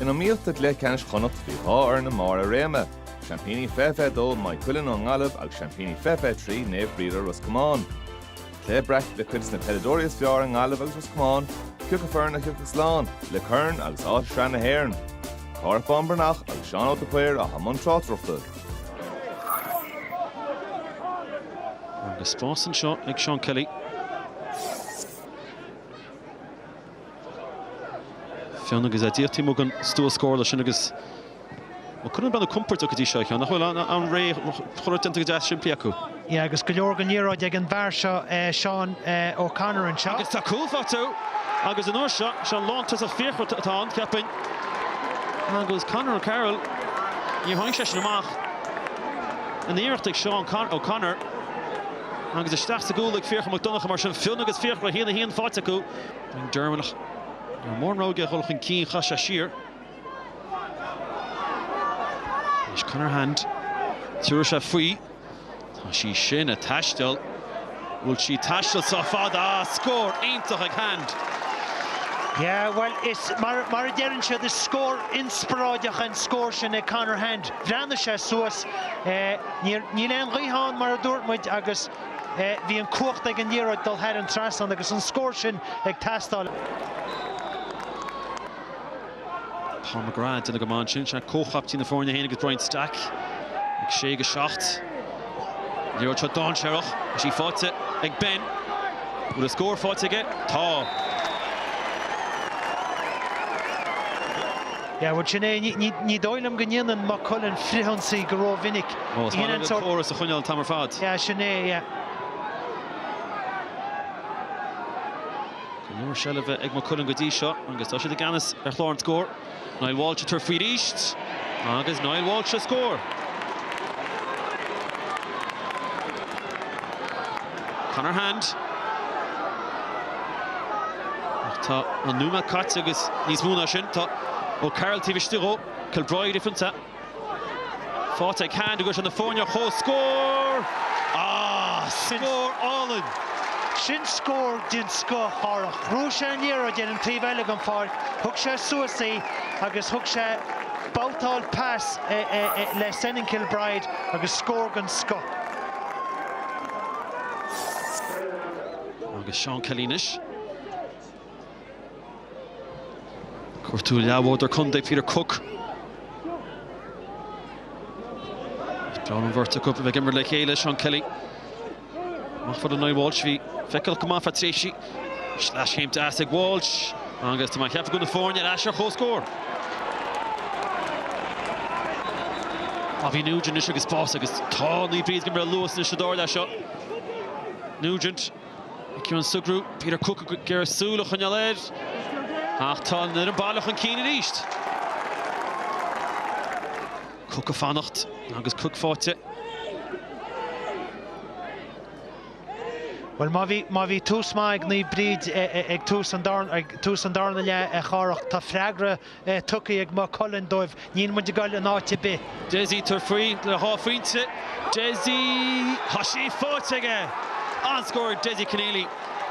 In iomaíocht do chluiche ceannais Chonnacht bhí dhá fhoireann i mbarr a réime, Seaimpíní fiche fiche dó Maigh Cuilinn ón nGaillimh agus Seaimpíní fiche fiche trí Naomh Bríde Ros Comáin. Cluiche breactha le cuid de na peileadóirí is fearr i nGaillimh agus Ros Comáin, cé acu foireann a thiocfadh slán, le corn agus áit i Sraith na hÉireann. Cárthach Bán Breathnach agus Seán Óg de Paor atá i mbun tráchtaireachta. Agus spás anseo ag Seán Kelly. Fionn, Agus é díreach taobh amuigh den stua scórála sin agus Maigh Cuilinn ag breathnú compordach go dtí seo a Sheáin, nach bhfuil, i ndáiríre chuile shórt déanta go deas simplí acu. Yeah agus go leor den liathróid ag an bhfear seo Seán O'Connor anseo. Agus tá cúl faighte acu agus an uair seo, sé an lántosach Fiachra atá ann, cheapfainn, agus Conor O'Carroll, níor tháinig seisean amach, an iarracht ag Seán O'Connor. Agus isteach sa gcúl ag Fiachra Mac Donncha mar sin, Fionn agus Fiachra, a haon a haon faighte acu. Derwin ach ní raibh mórán rogha aige a dhul chun cinn, chas sé siar. Anois Conor Hand, tiúrfaidh sé faoi. Tá sí sin ag taisteal. Bhfuil sí ag taisteal sách fada. Ah, scór iontach ag Hand! Yeah, bhuel, is mar a deireann siad, is scór inspioráideach an scór sin ag Conor Hand. Bhreathnaigh sé suas. Níor, níl aon ghaoth ann mar a dúirt muid agus bhí an cumhacht ag an liathróid dul thar an trasnán agus an scór sin ag teastáil. Paul McGrath ag déanamh go maith ansin, sé comhchaiptín na foirne é féin agus Brian Stack ag 6-7. Liathróid seo dáinséarach agus í faighte ag Ben. An bhfuil a scór faighte aige? Tá. Yeah, bhuel, sin é. Ní dóigh liom go ndéanann Maigh Cuilinn frithionsaí go rómhinic. Ó, is maith linn an córas a choinneáil an t-am ar fad. Yeah, sin é, yeah. Go leor seilbhe ag Maigh Cuilinn go dtí seo agus tá siad i gceannas ar chlár an scóir. Niall Walsh ag tabhairt faoi arís agus Niall Walsh a scór. Conor Hand, ach tá an nóiméad caite agus níos mó ná sin tá O'Carroll taobh istigh dhó, Kilbride ifanta, faighte ag Hand agus na foirne ar comhscór! Ah! Scór álainn! Sin scór den scoth a Chárthach. Rug sé ar an liathróid ar an taobh eile den pháirc, thug sé suas í agus thug sé babhtáil pas le Senan Kilbride agus scór den scoth. Agus Seán Kelly anois. Cuartú a leathbhádóir contae Peter Cooke. Is breá liom an bheirt acu a bheith ag imirt le chéile, Seán Kelly. Amach fad le Niall Walsh, bhí feiceálach go maith ar feadh tréimhsí. Slaiscín deas ag Walsh agus tá mar cheart acu na foirne ar ais ar chomhscór. Bobby Nugent anois agus spás agus tá Naomh Bríd ag imirt luas anois sa dara leath seo. Nugent, Ciarán Sugrue, Peter Cooke ag iarraidh súil a choinneáil air ach tá an fhoireann baile chun cinn arís. Cooke ag fanacht agus Cooke faighte. Bhuel, má bhí tús maith ag Naomh Bríd ag tús an darna leath, a Chárthach, tá freagra tugtha ag Maigh Cuilinn dóibh. Níl muid ag goil in áit ar bith. Dessie ag tabhairt faoi le haghaidh dhá phointe. Dessie, tá sí faighte aige! An-scór ag Dessie Conneely.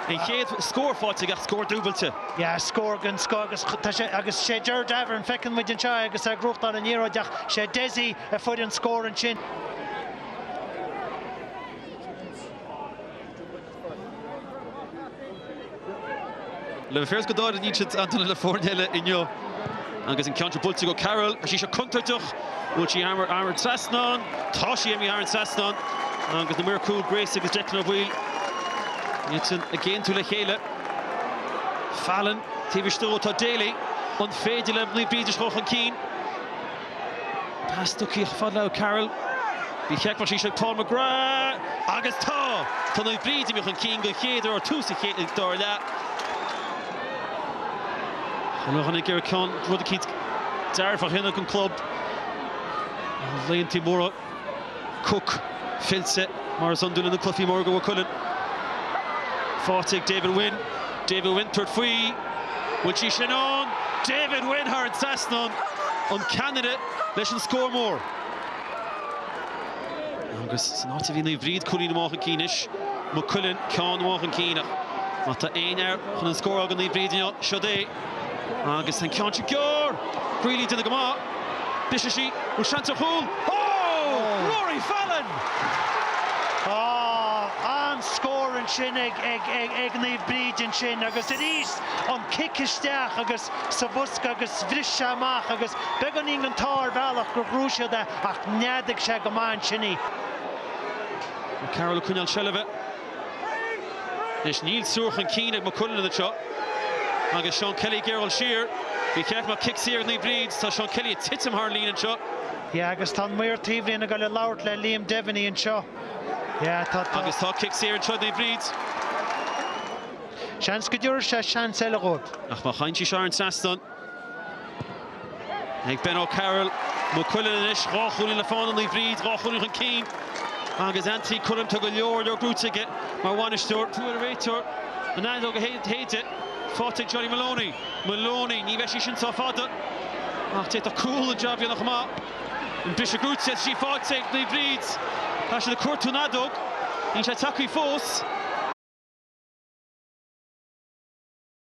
An chéad scór faighte aige ach scór dúbailte. Yeah, scór den scoth agus tá sé, agus sé Ger Davoren, feiceann muid anseo é agus é ag gnóthachtáil an liathróid ach sé Dessie a fuair an scór ansin. Le Mheirceá D'áirigh Neidhart Antaine le foirne eile inniu agus an ceann seo buailte ag O'Carroll. Bhí sí seo contúirteach. Bhfuil sí imithe thar an trasnán? Tá sí imithe thar an trasnán agus na maoir cúil Grace agus Declan Ó Baoill ag aontú le chéile. Fallon taobh istigh dhó, tá Daly. An féidir le Naomh Bríd a dhul chun cinn? Pas tugtha ar fad le O'Carroll. Ní fheicfeadh sí sin. Paul McGrath! Agus tá! Tá Naomh Bríd amuigh chun cinn don chéad uair ó thús an chéad, dara leath. Chun a chonac ar a ceann, rud a chinntigh dearbhú a chinneadh an club ar laethanta móra. Cooke fillte, mar is iondúil, sna cluifí móra do Mhaigh Cuilinn. Faighte ag David Wynne. David Wynne ag tabhairt faoi. Bhfuil sí sin ann? David Wynne thar an trasnán. An ceannaire leis an scór mór. Agus san áit a bhí Naomh Bríd cúilín amach chun cinn anois, Maigh Cuilinn ceann amach chun cinn. Ach má tá aon fhear chun an scór a fháil do Naomh Bríd inniu, siod é. Agus an ceann sin gearr! Greally duine go maith. Briseann sí. Bhfuil seans ar chúl? Ó! Rory Fallon! An-scór ansin ag Naomh Bríd ansin agus arís an cic isteach agus sa bhosca agus bhris sé amach agus beagáinín an t-ádh ar bhealach gur ghnóthaigh siad é ach neadaigh sé go maith ansin í. Carroll ag coinneáil seilbhe. Anois níl triúr chun cinn ag Maigh Cuilinn anseo agus Seán Kelly ag iarradh dul siar. Ba cheart go mbeadh cic saor ag Naomh Bríd. Tá Seán Kelly ag titim thar an líne anseo. Yeah, agus tá an maor taobhlíne ag dul ag labhairt le Liam Devaney anseo. Yeah, tá, tá. Agus tá cic saor anseo ag Naomh Bríd. Seans go dtabharfaidh sé seans eile dhóibh. Ach má théann sí seo thar an trasnán. Ag Ben O'Carroll, Maigh Cuilinn anois, dhá chúilín le fána, Naomh Bríd, dhá chúilín chun cinn agus Anthony Cunningham, tá go leor, leor gnóthaithe aige mar bhainisteoir. Tabharfaidh an réiteoir an fheadóg a shéideadh, Phádraig Johnny Moloney. Moloney, ní bheidh sí sin sách fada ach d'fhéadfadh cúl an jab a dhéanamh amach. An briseadh gnóthaithe is í faighte ag Naomh Bríd. Tá siad ag cuartú an fheadóg, níl sé tagtha fós.